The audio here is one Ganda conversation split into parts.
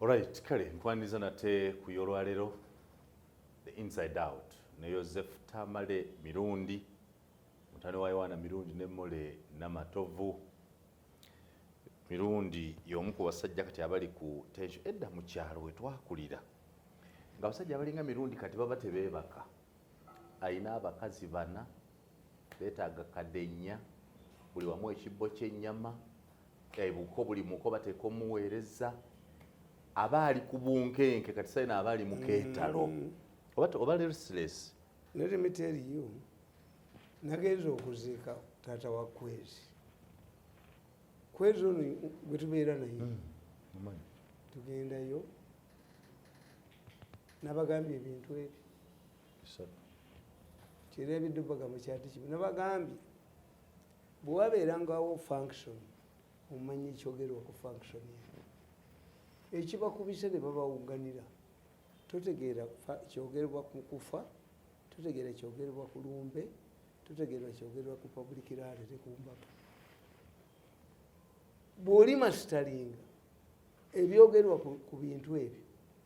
Alright, kale nkwaniza nate ku yolwalero the inside out ne Yosefu Tamale Mirundi mutane wa Yowana Mirundi ne Mole Namatovu. Mirundi y'omu ku basajja kati abali ku tension edda mu kyalo we twakulira nga abasajja abalinga Mirundi kati baba tebeebaka, alina abakazi bana betaaga kadenya buli wamu ekibbo kyenyama ebuko eh, buli muko bateeka omuweereza aba ali ku bunkenke kati sayina aba ali mukeetalo mm. oba restless let me tell you nagenza okuziika taata wa kwezi kwezi ono gwetubeera naye mm. tugendayo nabagambye ebintu ebyo kira ebiddubaga mukyati kimu nabagambye bwewabeerangawo function omanya ekyogerwa ku function eno ekibakubise ne babawuganira totegeera kyogerwa ku kufa totegeera kyogerwa ku lumbe totegeerwa kyogerwa ku public rally ne kumbaka bw'oli masitalinga ebyogerwa ku bintu ebyo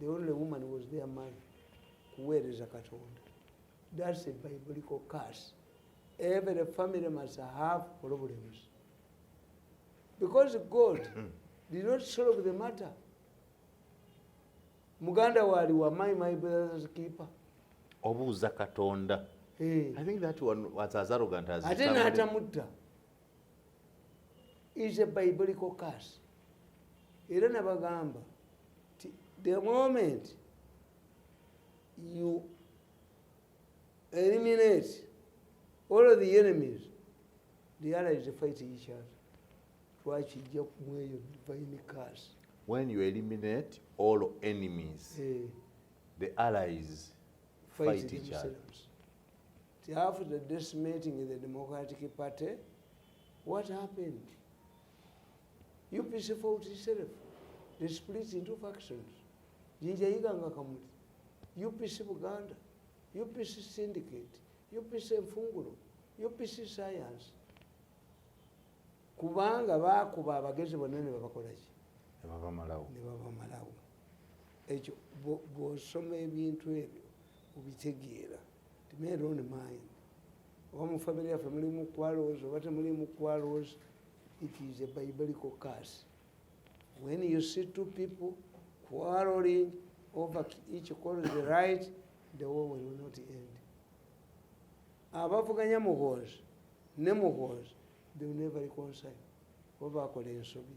the only woman was their mother kuweereza katonda that's a biblical curse every family must have problems because god did not solve the matter muganda waali wa my my brothers keeper obuuza katonda eh. ate n'atamutta is a biblical curse era nabagamba ti the moment you eliminate all of the enemies the allies fight each other twakijja kumweyo divine curse when you eliminate all enemies eh. the allies fight, fight each other After the decimating in the Democratic Party, what happened? UPC fought itself. They split into factions. Jinja Iganga Kamuli, UPC Buganda, UPC Syndicate, UPC Mfunguro, UPC Science. Kubanga bakuba abagezi bonna ne babakola ki? Ne babamalawo. Ne babamalawo. Ekyo bw'osoma ebintu ebyo obitegeera. oba mu famiry yaffe mulimu kwalowooza oba temulimu kwalowooza it is a biblical curse when you see two people quarreling over each quarrel the right the war will not end abavuganya muhoozi ne muhoozi they will never reconcile oba bakola ensobi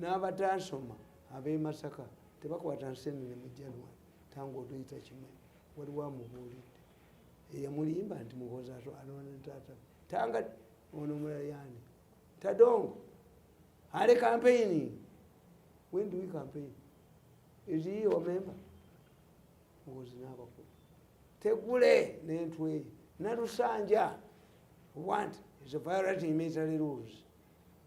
n'abataasoma ab'e masaka tebakwata nseenene mu january tangu otuyita kimwe waliwo amubuulidde eyamulimba nti muhozi anoona taata tanga ono mulayani tadongo ale kampeyini when do we campaign is he your member muhozi n'abakulu tegule n'entwe nalusanja want is a violating military rules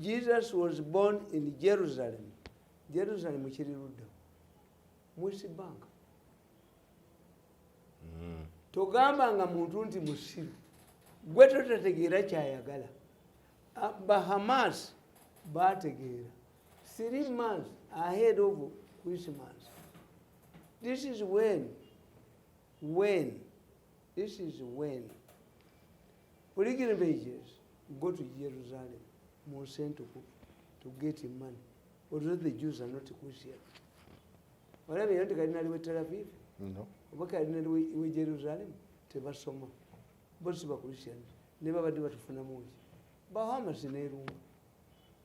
jesus was born in jerusalem jerusalem kiri ludda mwesi bank mm. togamba nga muntu nti musiru gwe totategeera kyayagala ah, bahamas bategeera three months ahead of christmas this is when when this is when pilgrimages go to jerusalem mu nsi entukuvu to get money although the jews are not christian olaba era nti kalina liwe telaviv oba kalina liwe jerusalem tebasoma bosi bachristian ne babadde batufunamuki bahamasi nerumba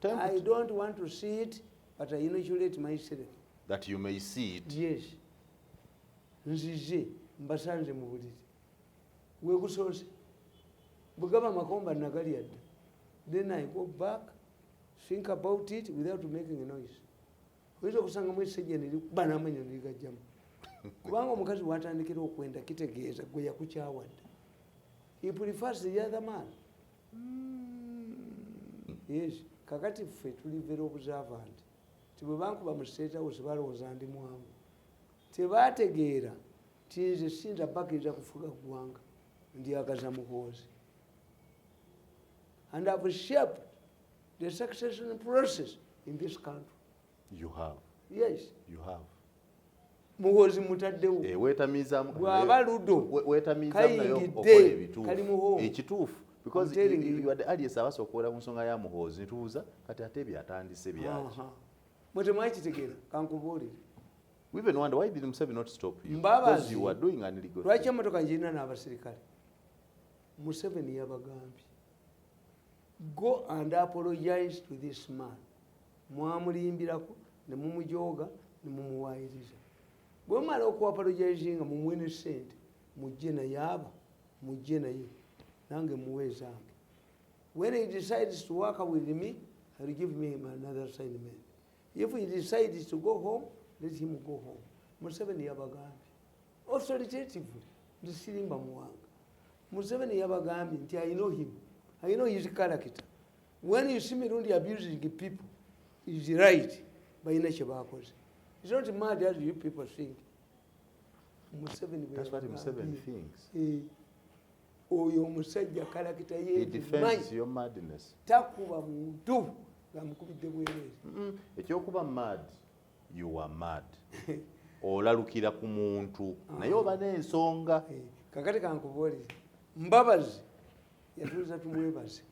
Time I to- don't want to see it, but I inoculate myself. that you may see it Yes. Nzize mbasanze mu buliri. Gwe gusoose. Bwe gaba amakomba nagalya dda. Then I go back, think about it without making a noise. Oyinza okusangamu essejja ne likuba n'amanyo ne ligajjamu. Kubanga omukazi w'atandikira okwenda kitegeeza gwe yakukyawa dda. He prefers the other man. yes kakati ffe tuli very observant ti bwe bankuba mu state house balowooza ndi mwangu tebategeera ti nze sinza bakiriza kufuga ggwanga ndyagaza muhoozi and have shaped the succession process in this country you have yes you have muwozi mutaddewo eh, wetamizamu bwaba ludo kayingidde kali muho ekituufu because you are the alias abasa okuwera ku nsonga ya muhoozi nitubuuza kati ate byatandise byaki mwe temwakitegeera kankubuulire even wonder why did Museven not stop you because you were doing an illegal lwaki emotoka njirina n'abasirikale Museven yabagambye go and apologize to this man mwamulimbirako ne mumujooga ne mumuwaayiriza bwe mumala okuapologizinga mumuwe ne ssente mujje naye aba mujje naye nange muwe ezange when he decides to work with me ill give me another assignment if he decides to go home let him go home museveni yabagambye authoritatively nze sirimba muwanga museveni yabagambye nti i know him i know his character when you see mirundi abusing people is right balina kyebakoze is not mad as you people think museveni eh, oyo omusajja kalakita yetakuba muntu ngamukubidde bwerere ekyokuba mad You are mad. Olalukira ku muntu naye oba n'ensonga. Eh, kakati kankubuulire Mbabazi yatuuza tumwebaze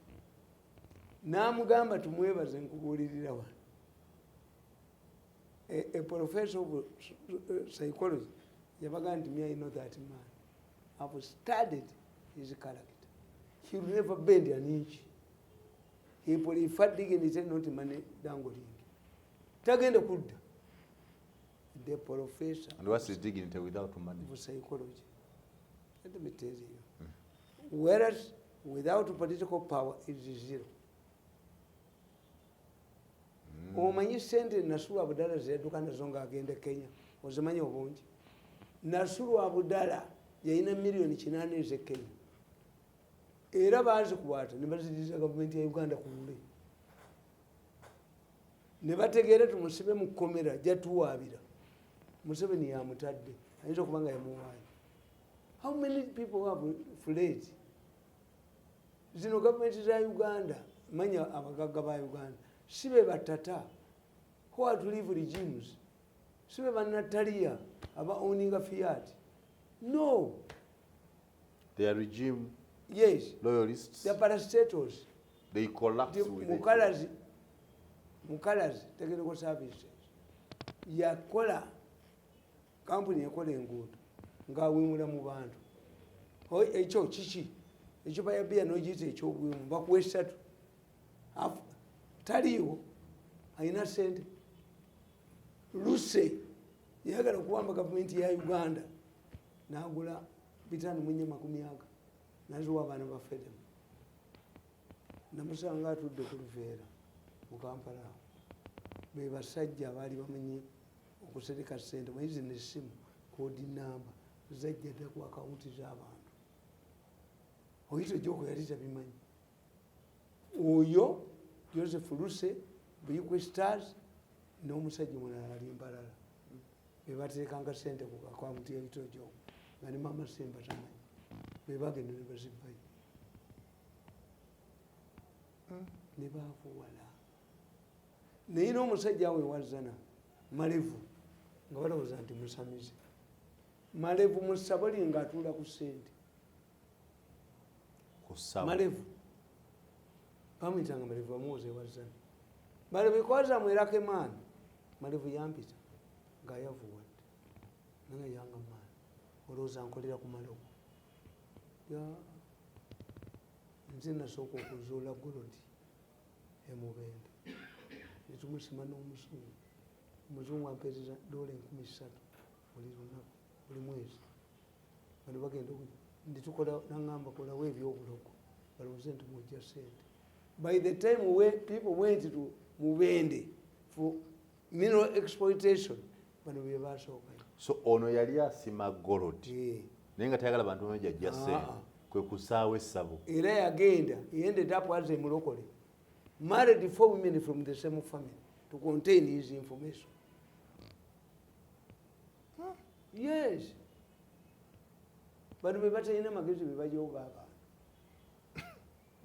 n'amugamba tumwebaze nkubuulirira wano a professor of uh, psychology yabaga nti me i know that man have studied his character he will never bend an inch he preferding and he said not money dangolingi tagenda kudda the professor and what's his dignity without money for psychology let me tell you mm. whereas without political power it is zero mm. omanyi sente nasulu abudala zeyaduka nazo nga agenda kenya ozimanyi obungi nasulu abudala yalina miliyoni kinana eze kenya era bazikwata nebaziriza gavumenti ya uganda ku lule ne bategeera tumusibe mu kkomera jatuwaabira museveni yamutadde ayinza okuba nga yamuwaayo how many people have fled zino gavumenti za uganda manya abagagga ba uganda si be batata who are to live regimes si be banataliya aba owninga fiat no They are regime yes. loyalists. They are parastatals. They collapse the, with Mukalazi, it. Mukalazi Technical Services yakola kampuni ekola enguudo ng'awemula mu bantu ekyo kiki ekyo bayabiya nogiyita ekyobuwemu bakuwa esatu taliiwo alina sente luse yayagala okuwamba gavumenti ya uganda nagula bitano munya makumi aga naziwa abaana bafedemu namusanga atudde ku luveera mu kampala awo be basajja abaali bamanyi okusereka sente maizi nesimu kodi namba zajja dda ku akawunti z'abantu oyita ejyoko yali tabimanyi oyo joseph luse buyikwe stars n'omusajja mulala ali mbalala bebateekanga sente ku akaunti yaitojo nga ne mama semba tamanyi bebagenda ne bazibbayo hmm. ne baakuwala naye n'omusajja awe wazana malevu nga balowooza nti musamize malevu musabali nga atuula ku sente malevu bamuyitanga malevu bamuwoza ewazani bali bikoza mwelake maani malevu yampita nga yavuwadde naye yanga maani olowooza nkolera ku malogo nze nasooka okuzuula golodi emubende netumusima n'omusungu omuzungu ampeereza doola enkumi ssatu buli lunaku buli mwezi bano bagenda ndi tukola nangamba kolawo ebyobulogo balowooze nti mujja sente by the time we people went to mubende for mineral exploitation bano bebasookayo so ono yali asima golod eh. naye nga tayagala bantu bano jajja ah. sente kwe kusaawo essabo era yagenda ended up as a mulokole married four women from the same family to contain his information yes bano bebatalina magezi bebajoga abantu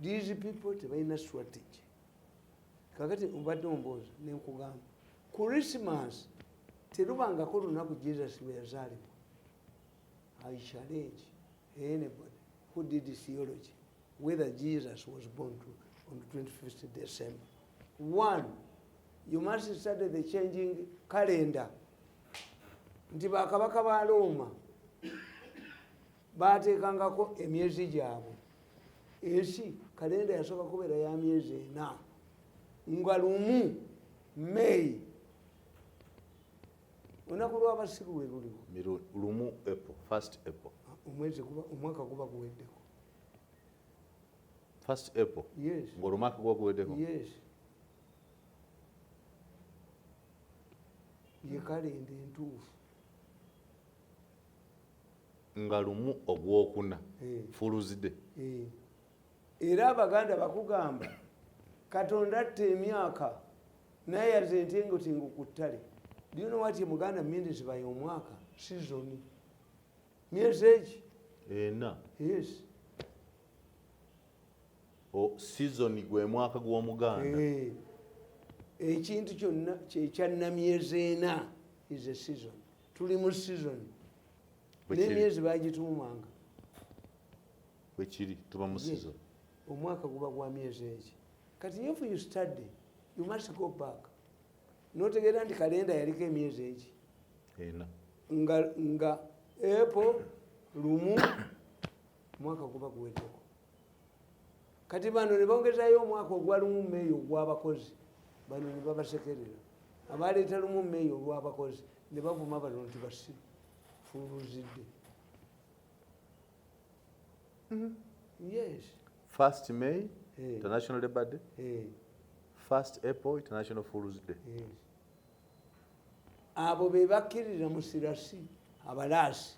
these people tebalina strategy kakati obadde omboozi nenkugamba christmas terubangako olunaku jesus lweyazaalibwa i challenge anybody who did theology whether jesus was born to, on the 25th december one you must study the changing calendar nti bakabaka ba looma bateekangako emyezi gyabwe ensi kalenda yasooka kubeera ya myezi ena nga lumu may olunaku lwabasiru we luliwo lumu apple first apple omwezi kuba omwaka kuba guweddeko first apple yes ngolumaka kuba guweddeko yes ye kalenda entuufu nga lumu ogwokuna eh. fuluzide eh. era abaganda bakugamba katonda atta emyaka naye yate entengotengo ku ttale byona watye muganda mindes baye omwaka sizoni myezi eki ena yes o sizoni gwe mwaka gw'omuganda eh, ekintu kyonna kyekyannamyezi ena is a season tuli mu season n'emyezi bagituumanga bwekiri tuba mu season omwaka guba gwa myezi eki kati if you study you must go back notegeera nti kalenda yaliko emyezi eki ena nga nga epo lumu mwaka guba guwedeko kati bano nebongezayo omwaka ogwalumu meeya ogwabakozi bano nebabasekerera abaleeta lumu meeya olwabakozi nebavuma bano nti basi fuluzidde mm-hmm. yes first may hey. Eh. international labor day hey. Eh. first april international fools day yes. Eh. abo bebakkirira musirasi abalaasi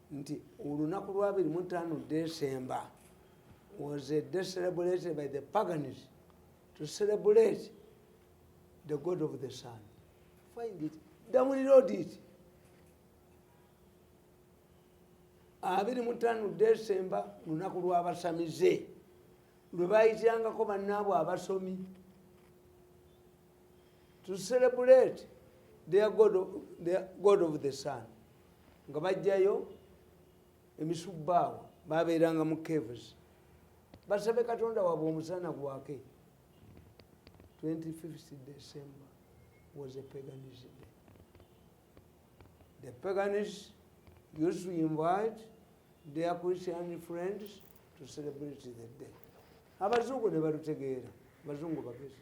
nti olunaku lwa 25 decemba was a day celebrated by the pagans to celebrate the god of the sun find it download it abiri mutano desemba lunaku lwabasamize lwebayitirangako banaabwe abasomi to celebrate their god, of, their god of the sun nga bajjayo emisubbaawo babeeranga mu caves basabe katonda wabwe omusana gwake 25 december was a paganism day the paganists used to invite their christian friends to celebrate the day abazungu ne balutegeera abazungu bagezi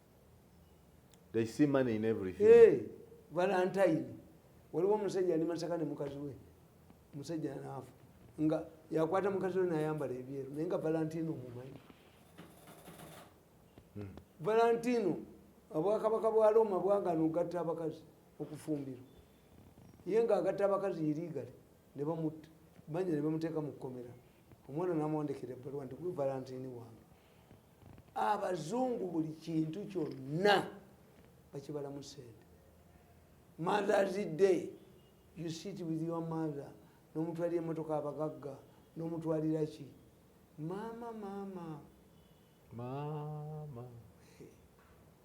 they see money in everything hey, valentine waliwo omusajja ali masaka ne mukazi we omusajja naafu nga yakwata mukazi we nayambala ebyeru naye nga valentino mumanyi hmm. valentino obwakabaka bwa roma bwagana ogatta abakazi okufumbirwa ye nga agatta abakazi irigale ne bamutta banja ne bamuteeka mu kkomera omwana namwandikira ebbaluwa nti gwe valentini wange abazungu buli kintu kyonna bakibalamu sente mothers day you sit with your mother nomutwalira emotoka abagagga nomutwalira ki maama maama maama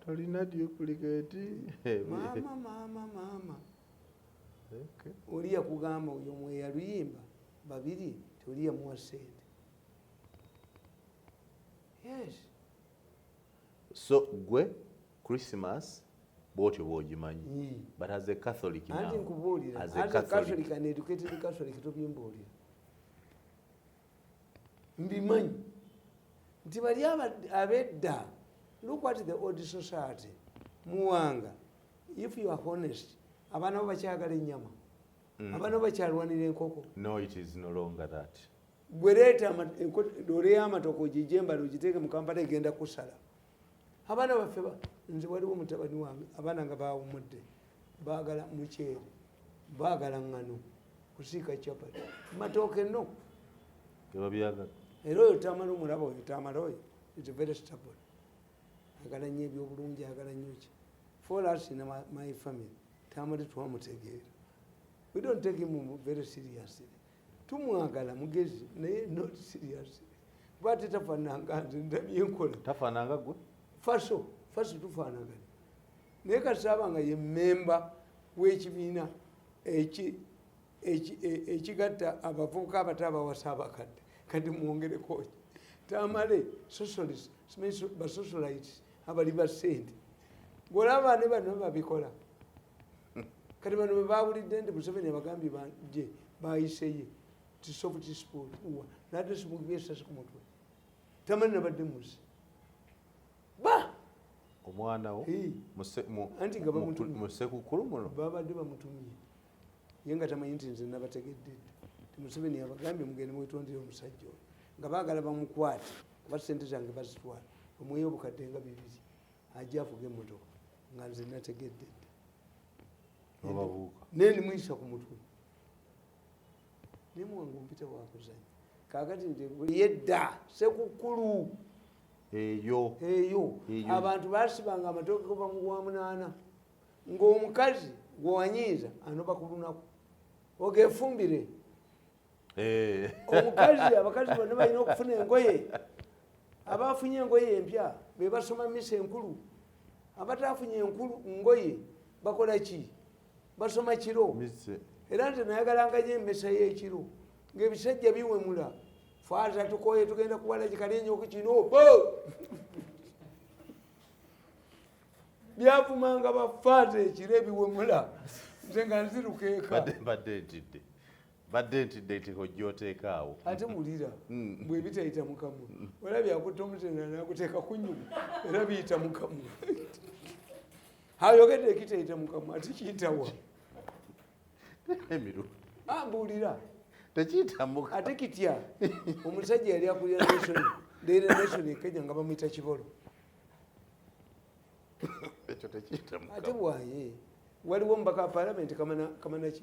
tolina duplicate maama maama maama oli yakugamba oyo mweyaluyimba babiri toli yamuwa sente yes so gwe christmas bwotyo bwogimanyi hmm. but as a catholic anti nkubuulira as a catholic an educated catholic tobimbuulira mbimanyi nti bali abedda look at the old society muwanga if you are honest abaana bo bakyagala ennyama hmm. abaana bo bakyalwanira enkoko no it is no longer that gwe leeta loole y'amatoka ogijembala ogiteeke mu kampala egenda kusala abaana baffe nze waliwo mutabani wange abaana nga bawumudde baagala muceere baagala ŋŋano kusiika capati matooke no era oyo tamala omulaba oyo tamala oyo is very stable agala nnyo ebyobulungi agala nnyo ki for us in my family tamale twamutegeera we don't take him very seriously tumwagala mugezi naye not serious kuba ate tafananga nze ndabyenkola tafananga gwe faso faso tufanagana naye kasaba nga ye memba wekibiina e, ekigatta abavubuka abato abawasa abakadde kati mwongerekoki tamale socialist basocialites abali basente golaba ne bano babikola kati bano bebawulidde nti museveni abagambye banje bayiseye tisofutispoa nadesimugibe esasi ku mutwe tamanyi nabadde muzi ba omwana wo anti nga bamutumyemusekukulu muno babadde bamutumye ye nga tamanyi nti nze nabategedde ti museveni abagambye mugende mwetondere omusajja oyo nga bagala bamukwate kuba sente zange bazitwala omweyo obukadde nga bibiri ajja avuga emotoka nga nze nategedde naye nimuyisa ku mutwe naye muwange ompita wakuzanya kakati nti buli yedda sekukkulu eyo eyo abantu basibanga amatooke kuva mu gwamunaana ng'omukazi gwewanyiiza anoba ku lunaku ogefumbire okay, eh. omukazi abakazi bonna balina okufuna engoye abafunye engoye empya bebasoma misa enkulu abatafunye enkulu ngoye bakola ki basoma kiro era nze nayagalangayo emisa yekiro ngaebisajja biwemula faaza tukoye tugenda kuwala kikalenyoku kino byavumanga bafaaza ekiro ebiwemula nze nga nzirukeeka badde ntidde nti hojja oteeka awo ate wulira mm. bwe bitayita mukamwa olaba byakutta omutendera nakuteeka ku nyuma era biyita mukamwa ayogedde ekitayita mukamwa ati kiyitawa emiru ambuulira tekiyitamuka ate kitya omusajja yali akulira nation daily nation ekenya nga bamuyita kibolo ekyo tekiyitamuka ate bwaye waliwo mubaka wa palamenti kamanaki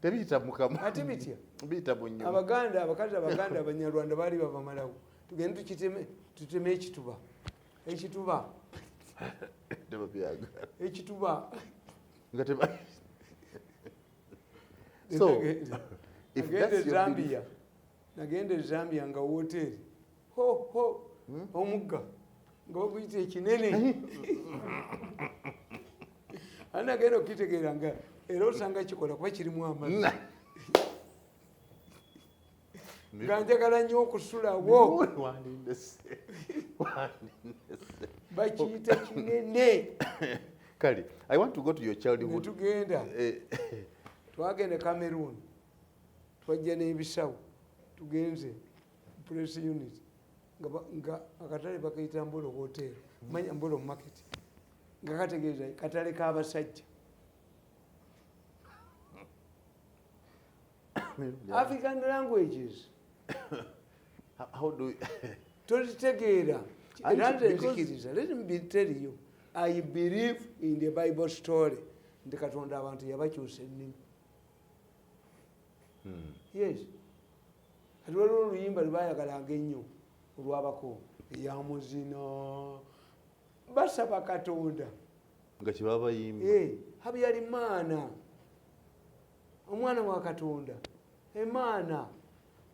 tebiyita mukama ati bitya biyita bunyo abaganda abakadde abaganda abanyarwanda baali babamalawo tugende tukiteme tuteme ekituba ekituba ekituba nga teba so if that's your nagenda ezambia nga woteri ho ho hmm? omugga nga baguyita ekinene ana agenda okukitegeera nga era osanga kikola kuba kirimu amazi nga njagala nnyo okusulawo bakiyita kinene kale i want to go to your childhood tugenda eh. twagenda cameroon twajja n'ebisawo tugenze press unit nga akatale bakayita mbolo hotel hmm. manya mbolo market nga kategeeza katale kabasajja african languages tolitegeera eranzenzikiriza let me tell you i believe in the bible story nti katonda abantu yabakyusa ennimi hmm. yes kati waliwo oluyimba lwebayagalanga ennyo olwabako eyamuzina basaba katonda nga kyebabayimba eh, habyali maana omwana wa katonda emaana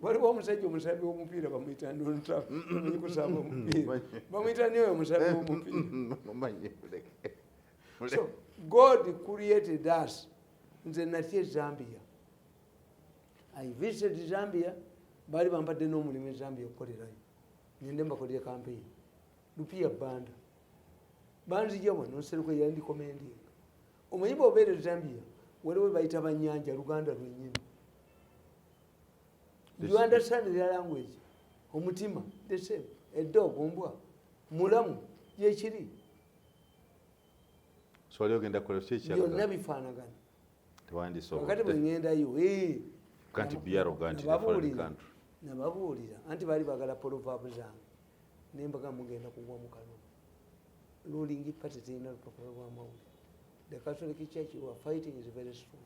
waliwo omusajja omusabi womupiira bamwita nkusaba omupiira bamwita nioyo omusabi womupiira so god created us nze natya ezambia i visited zambia baali bambadde n'omulimu ezambia okukolerayo nende mbakolere kampeyini lupiya banda banzija wano nseruko yandikomendinga omanyi bwobeera ezambia waliwo bayita banyanja luganda lwenyini you understand their language omutima the same edog ombwa mulamu yekiri swali ogenda kola kiki ekyalo byonna bifaanagana tewandisobokati bwe ŋendayo kanti byaroga nti nababuulira anti baali bagala polovabu zange nembaga mugenda kugwa mu kanwa ruling party terina lupapula lwa mawulire the catholic church who are fighting is very strong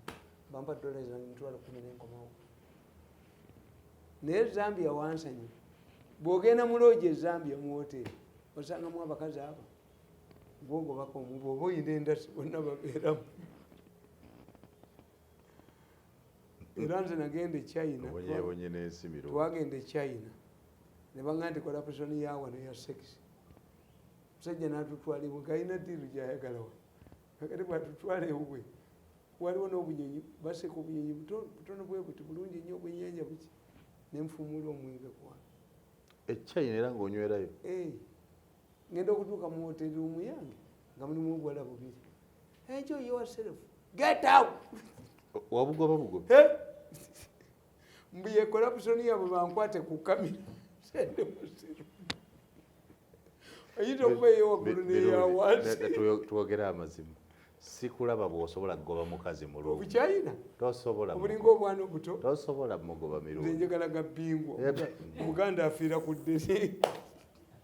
bampa dola zange mitwalo kumi nenkomawo naye zambia wansanyi bwogenda muloogi ezambia muwoteri osangamu abakazi abo gwogobako omuba oba oyina endasi bonna babeeramu era nze nagenda echina twagenda echina nebanga nti corruption yawa neya sex musajja natutwala ewe galina diru gyayagalawa kakati bwatutwala ewuwe waliwo nobunyonyi baseka obunyonyi butono bwebuti bulungi nyo obwenyanja buki nenfumula omwenge kwana echina era ngaonywerayo eh. ngenda okutuuka mu hoteri omuyange nga mulimu obuwala bubiri enjo yourself get out wabugoba bugoba mbuye corruption yabo bankwate ku kamera sende musiru oyinza okuba eyowagulu neyawanzitwogera amazima sikulaba bwosobola kugoba mukazi mulungibukyayina tosobola obulinga obwana obuto tosobola mugoba mirungi njagala ga bingwa omuganda afiira ku ddene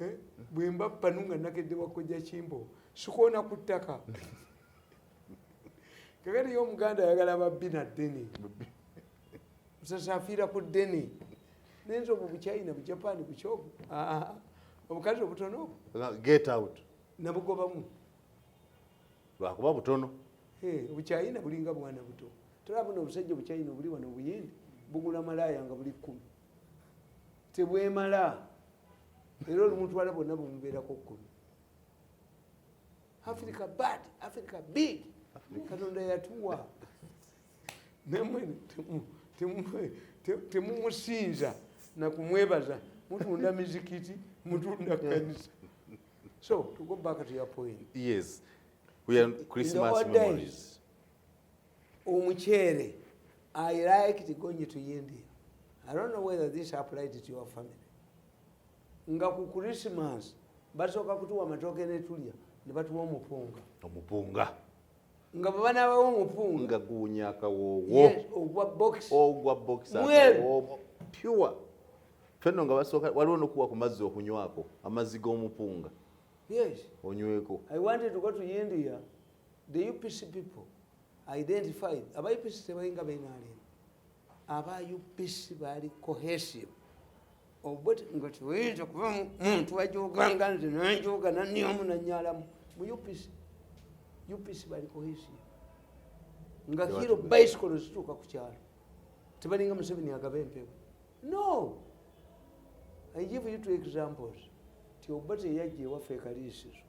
eh, bwemba panu nga nakedde wakojja kimbo sikoona ku ttaka kakati yo omuganda ayagala babbi na ddene musasafiira ku ddene nenze obwo buchina bujapani bukyobu obukazi obutono get out nabugobamu lwakuba butono obuchina bulinga bwana buto tolabona obusajja obuchina obuli wano obuyindi bugula malaaya nga buli kkumi tebwemala era olumu twala bonna bumubeerako kkumi africa bad africa big katonda yatuwa namwe temumusinza nakumwebaza mutunda mizikiti mutunda kanisa so to go back to your point yes we are christmas memories omuceere i liked going to india i don't know whether this applied to your family nga ku christmas basooka kutuwa amatooke netulya nebatuwa omupunga omupunga nga bwebanabawo omupunga nga guwunya akawoowo ogwa box ogwa box akawoowo pure fenno nga basooka waliwo nokuwa ku mazzi okunywako amazzi g'omupunga yes onyweko i wanted to go to india the upc people identified aba upc tebalinga benalem aba upc bali cohesive obut nga tewinza kuba muntu ajoganga nze nanjoga naniomu nanyalamu mu upc upc bali cohesive nga hiro bicycle zituuka ku kyalo tebalinga museveni agaba empewo no i give you two examples ti obut eyajja ewaffe ekaliisizo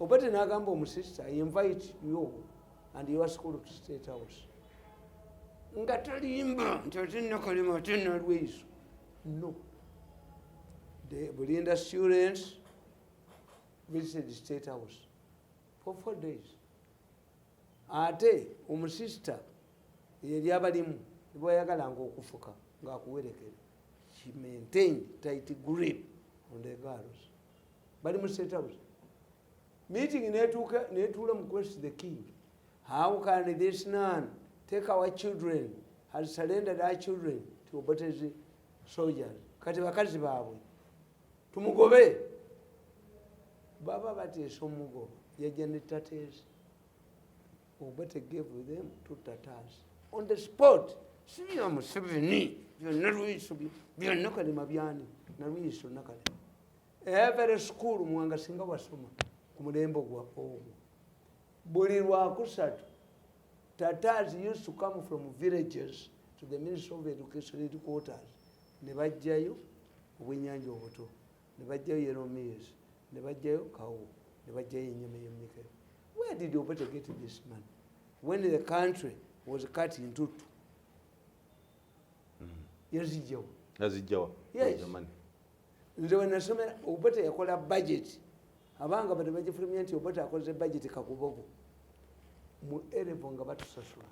obade nagamba omusista invite yo and your school to state house nga talimba nti ate nakalema ate nalweiso no bulinda students visited state house for four days ate omusista yeri abalimu bwayagalanga okufuka ngaakuwerekera she maintained tight grip on the girls bali mu state house meeting netuuka netuula mu quest the king how can this man take our children has surrendered our children to obotes soldiers kati bakazi baabwe tumugobe baba bateesa omugoba yajja ne tateesa Obote gave them two tatars on the spot. Si bya Museveni, bya Nalweyiso, bya Nakalema byani, Nalweyiso Nakalema. Every school mwanga singa wasoma ku mulembe gwa ogwo. Buli lwakusatu tatars used to come from villages to the Ministry of Education headquarters ne bajjayo obwenyanja obuto. ne bajjayo yeromiyeesi ne bajjayo kawo ne bajjayo enyama yomikeo where did obote get this man when the country was cut into two mm. yazijjawo yazijjawa yes nze wenasomera obote yakola budget abanga bade bagifulumya nti obote akoze budget kakubogo mu erevo nga batusasula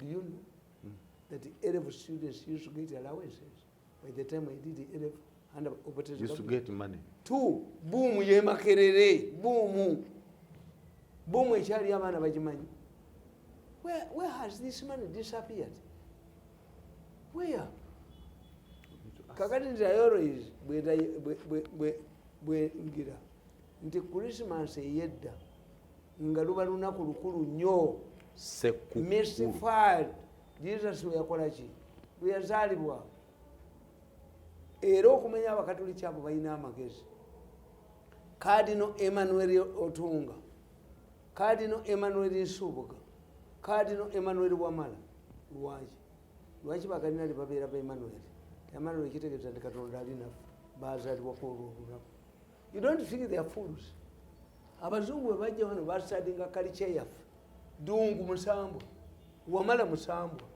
do you know mm. that erevo students used to get allowances by the time I did A level and I operated used to get money two boom ye makerere boom boom ekyali abaana bagimanyi where where has this money disappeared where kakati nti ayorois bwengira nti christmas eyedda nga luba lunaku lukulu nnyo mr fad jesus weyakola ki lweyazaalibwa era okumenya abakatoliki abo balina amagezi kadino emmanuel otunga kadino emmanuel nsubuga kadino emmanuel wamala lwaki lwaki bakadinali babeera ba emmanuel emmanuel kitegeeza nti katonda alinafe bazalibwa kwolwo olunaku You don't think they are fools. Abazungu bwe bajja wano basadinga kalica yaffe dungu musambwa wamala musambwa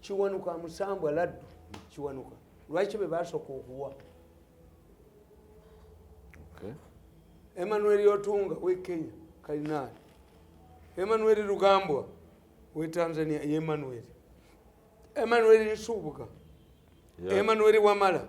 kiwanuka musambwa laddu kiwanuka lwaki be basooka okuwa emmanuel otunga we kenya kalinaali emmanuel lugambwa we tanzania ye emmanuel emmanuel nsubuga emmanuel wamala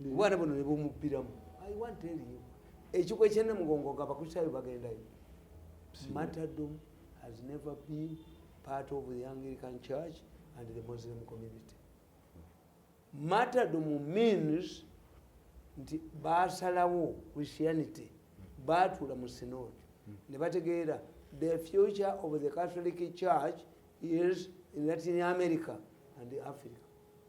obwana buno ne bumubbiramu i want tell you ekiko ekyenne mugongo nga abakristaayo bagendayo matadom has never been part of the anglican church and the muslim community matadom means nti basalawo christianity baatuula mu sinod ne bategeera the future of the catholic church is in latin america and africa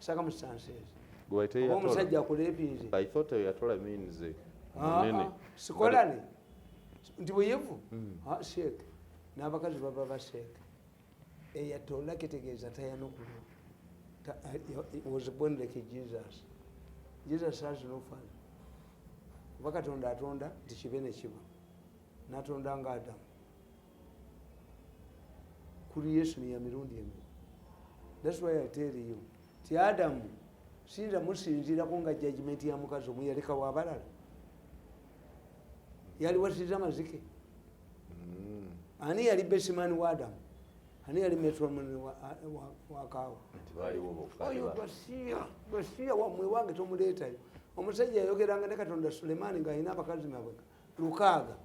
circumstances oba omusajja akulepinze i thought yatola means eh, ah, munene ah, sikolane nti buyivu hmm. ah, sheek n'abakazi baba ba sheek eyatola eh, kitegeeza tayanukulu eh, was born like jesus jesus has no fun kuba katonda atonda nti kibe nekiba natonda nga adamu creation ya mirundi emeka thats why i tell you ti adamu sinza musinzirako nga judgment ya mukazi omu yalekawo abalala yaliwasiza amazike mm. ani yali besimani wa adamu ani yali metromani wakaawa oyo basiya basiya wamwe wange tomuleetayo omusajja yayogeranga ne katonda sulemaani ng'alina abakazi mabweka lukaaga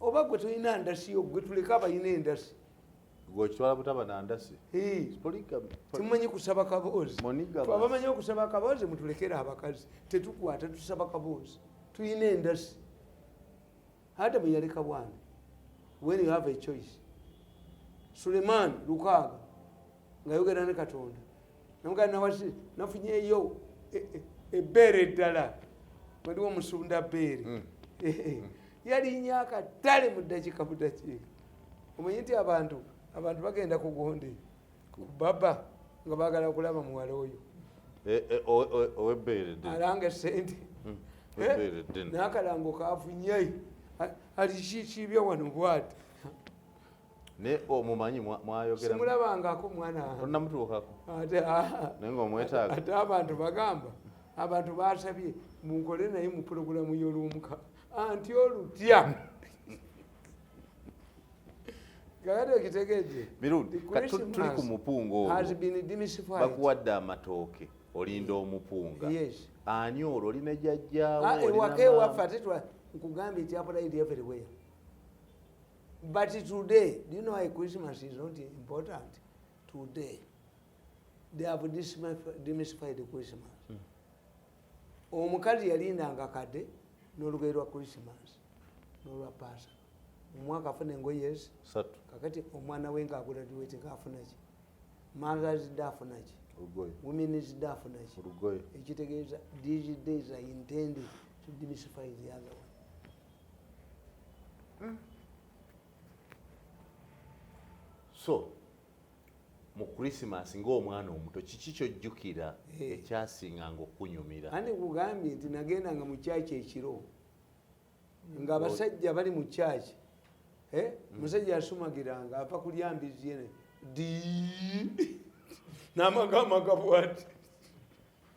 oba gwe tulina ndasi yo gwe tuleka abalina endasi gwekitwala butaba na ndasi tumanyi kusaba kaboozi abamanyi okusaba akaboozi mutulekere abakazi tetukwata tusaba kaboozi tulina endasi adamu yaleka bwana when you have a choice suleiman lukaaga nga yogera ne katonda namugana nawaki nafunyeyo ebbeere e, eddala waliwo omusunda bbeere mm. yalinya akatale mu ddakiika mu ddakiika omanyi nti abantu abantu bagenda kugonde kubaba nga bagala okulaba muwala oyo eh, eh, owebbeere alanga esente mm. Eh, nakalango kavunyai alikikiibya wano bwati naye omumanyi oh, mwayogeramulabangako mwanaonamutuukako ate ah, naye nga omwetaaga ate abantu bagamba abantu basabye munkole naye mu pulogulamu y'oluumuka anti olutya tuli ku mupungaobakuwadde amatooke olinda omupunga ani olwo olina jajjawo ah, ewaka ewaffe ate nkugambye nti apulaidi everywhere But today, do you know why Christmas is not important? Today, they have demystified Christmas. Hmm. omukazi yalindanga kade nolugeri lwa christmas nolwa pasa omwaka afuna engoyes kakati omwana we nga aguladuwete ngafunaki mothers day afunaki women's day afunaki ekitegeeza these days are intended to demystify the other one mm. so mu krisimas ngaomwana omuto kiki kyojjukira eh. ekyasinga nga okunyumira andi kugambye nti nagenda nga mukyaki ekiro nga abasajja bali mu kyaki eh? mm. musajja asumagiranga ava kulya mbizi yene di namagamaga bwati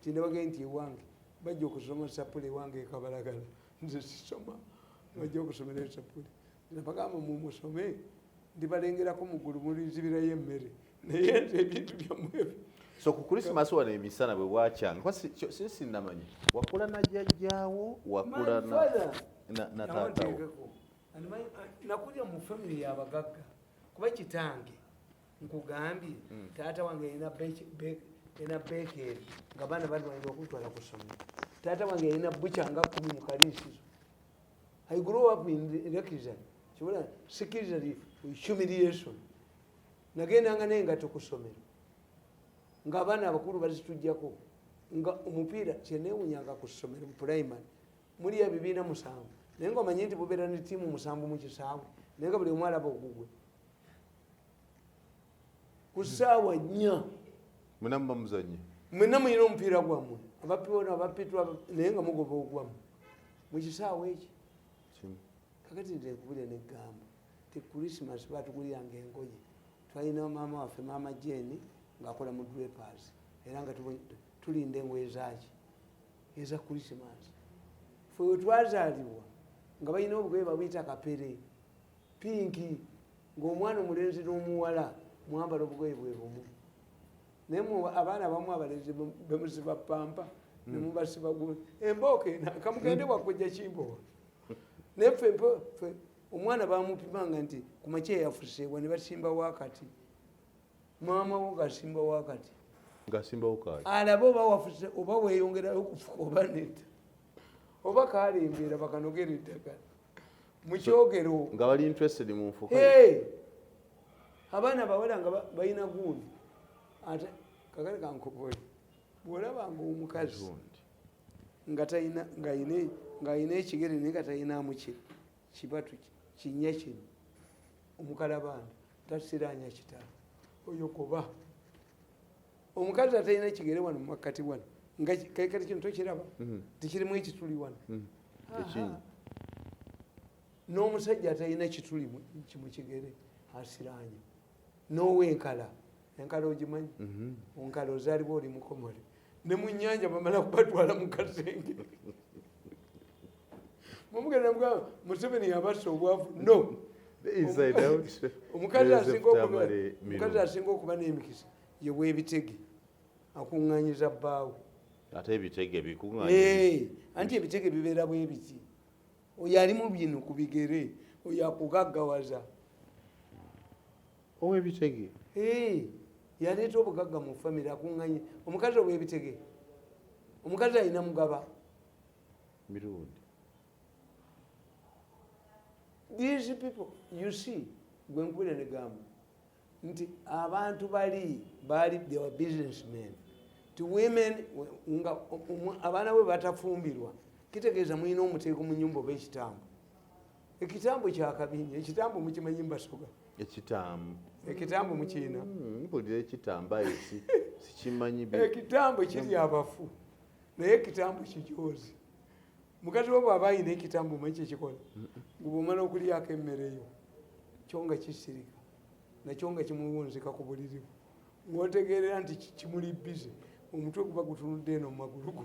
tinabagee nti ewange bajja okusoma sapule ewange ekabalagala nze sisoma bajja okusomera esapule nabagamba mumusome ndibalengerako mugulu mulinzibirayo emmere naye nze ebintu byamwebyo so ku christmas wano emisana bwe wakyanga kuba sisinamanya wakula na jjajjaawo wakula na taatawo nakulira mu famiry yabagagga kuba kitange nkugambye hmm. taata wange yalina ena bekeeri nga baana balwanira okutwala ku ssomero taata wange yalina buca nga kumi mu kaliisizo i grow up in reckisan kibula sikirizaly humiliation nagendanga naye nga tukusomero nga abaana abakulu bazitujjako nga omupiira kyenewunyanga ku ssomero mu primary muli ebibiina musanvu naye nga omanye nti bubeera ne tiimu musanvu mu kisaawe naye nga buli omwalaba ogugwe ku saawa nnya mwena muba muzanye mwena muyina omupiira gwammwe abapiona abapitwa naye nga mugoba ogwamu mukisaawa ekyo kakati ntenkubire negamba ti christmas batuguliranga engoye twalina maama waffe maama jeni ngaakola mu drapers era nga tulinda engoye zaki eza christmas fe wetwazalibwa nga balina obugoye babuyita kapere pinki ng'omwana omulenzi n'omuwala mwambala obugoye bwe bumu naye mu abaana abamu abalenzi bemuziba pampa nemubasiba mm. gu embooka ena kamugende wakujja kimbowa naye fe omwana bamupimanga nti ku makya yafuseewa ne basimba wakati maama wo ngasimba wakati alabe oba wafuse oba weyongerayo okufuka oba neta oba kalembeera bakanogera eddagala mukyogero nga bali interested mu nfuka hey! abaana bawala nga balina gundi ate kakale kankoboye bwolabanga omukazi ngaalina ekigere naye nga talinamu kibatu kinya kino omukalabanda tasiranya kitala oyo kuba omukazi atalina kigere wano mumakkati wano nga kati kino tokiraba mhm. tikirimu ekituli wano mhm. n'omusajja atalina kituli kimukigere asiranya n'owenkala enkala ogimanyi mhm. onkala ozaliba oli mukomole ne mu nyanja bamala kubatwala mu kasenge mumugenda mugamba museveni yabasa obwavu no omukazi asinga okuba n'emikisa ye webitege akunganyiza bbaawe ate ebitege bikunganye anti ebitege bibeera bwebiti oyo ali mu bino ku bigere oyo akugaggawaza owebitege yaleeta obugagga mu famiry akunganye omukazi owebitege omukazi alina mugaba mirundi these people you see gwenkubira negamba nti abantu bali baali they were business men ti women nga abaana bwe batafumbirwa kitegeeza mulina omuteeko mu nyumba oba ekitambo ekitambo kyakabinyo ekitambo mukimanyi mbasoga ekitambo ekitambo mukiina hmm, mpulira ekitambo aye sikimanyi ekitambo kiri abafu naye ekitambo kijozi mukati wo bwaba ayina ekitambo manyi kyekikola ngubwomala okulyako emmere yo kyo nga kisirika nakyo nga kimuwunzika ku buliri bwe ng'otegeerera nti kimuli bize omutwe guba gutunudde eno mu magulu go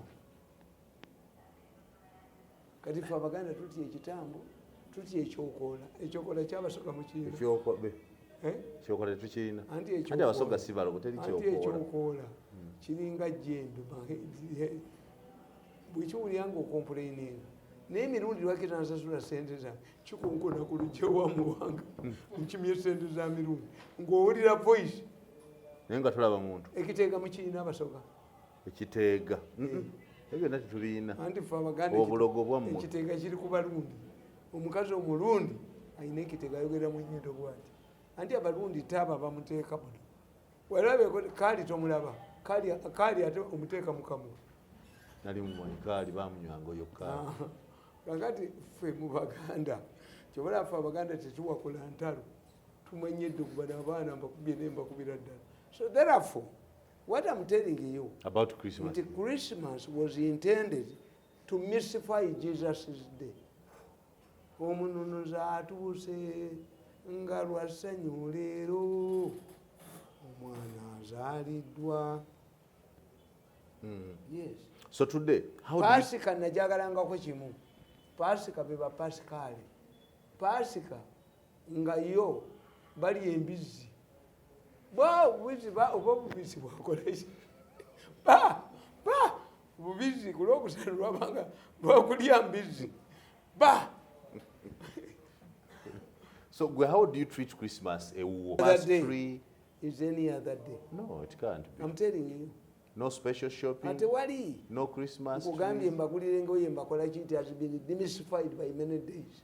kati fe abaganda tutya ekitambo tutya ekyokoola ekyokoola kyabasoga mukiinaekyokola kiringa jembe bwekiwulira nga okompuleininga naye emirundi lwaki tansasula sente zange kikonkona ku lujja wa muwanga nkimye sente za mirundi ng'owulira voice naye nga tulaba muntu ekiteega mukirina abasoga ekiteega eh. ebyo byonna tetulina anti fe abaganda obulogo bwammwe ekiteega kiri ku balundi omukazi omulundi alina ekiteega ayogera mu nyindo bwati anti abalundi taaba bamuteeka muno Walabeeko kaali tomulaba kaali kaali ate omuteeka mukamu. Nali mumoni kaali bamunywa ngoyo kaali. Ah, kakati ffe mu Baganda kyobola ffe Abaganda tetuwakula ntalo tumanye dde okuba n'abaana mbakubye ne mbakubira ddala so therefore what I'm telling you about Christmas nti Christmas was intended to mystify Jesus' day omununuzi atuuse nga lwa ssanyu leero omwana azaaliddwa hmm. so today pasika najagalangako kimu pasika beba pasikaale pasika nga yo bali embizzi ba obubizi ba oba obubizi bwakolaki ba ba obubizi ku lwokusatu lwabanga lwakulya mbizi ba so gwe how do you treat christmas ewuwo is any other day no it can't be i'm telling you no special shopping ate wali no christmas nkugambye mbagulire engoye mbakola ki it has been demystified by many days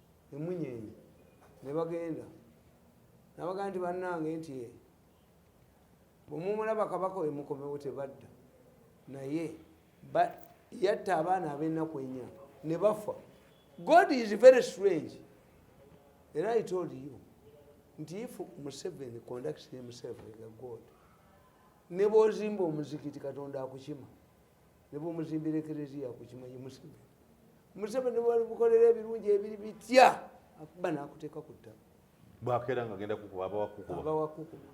emunyenye nebagenda nabaga nti banange nti eh, bwemumulaba kabaka wemukomewo tebadda naye yatta abaana abenaku enya nebafa god is very strange era i told you nti if museveni conducts himself like a god nebwozimba omuzikiti katonda akukima nebwomuzimbira ekereziya kukimanyi museveni museveni bwalimukolera ebirungi ebiri bitya akuba nakuteeka ku ttaka bwakeera nga agenda kukuba abawakukuba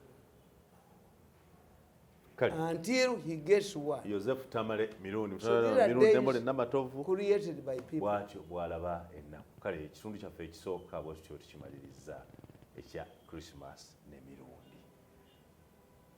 until he gets what Joseph Tamale Mirundi Mirundembole Namatovu created by people bwatyo bwalaba ennaku kale ekitundu kyaffe ekisooka bwekityo tukimaliriza ekya Christmas ne Mirundi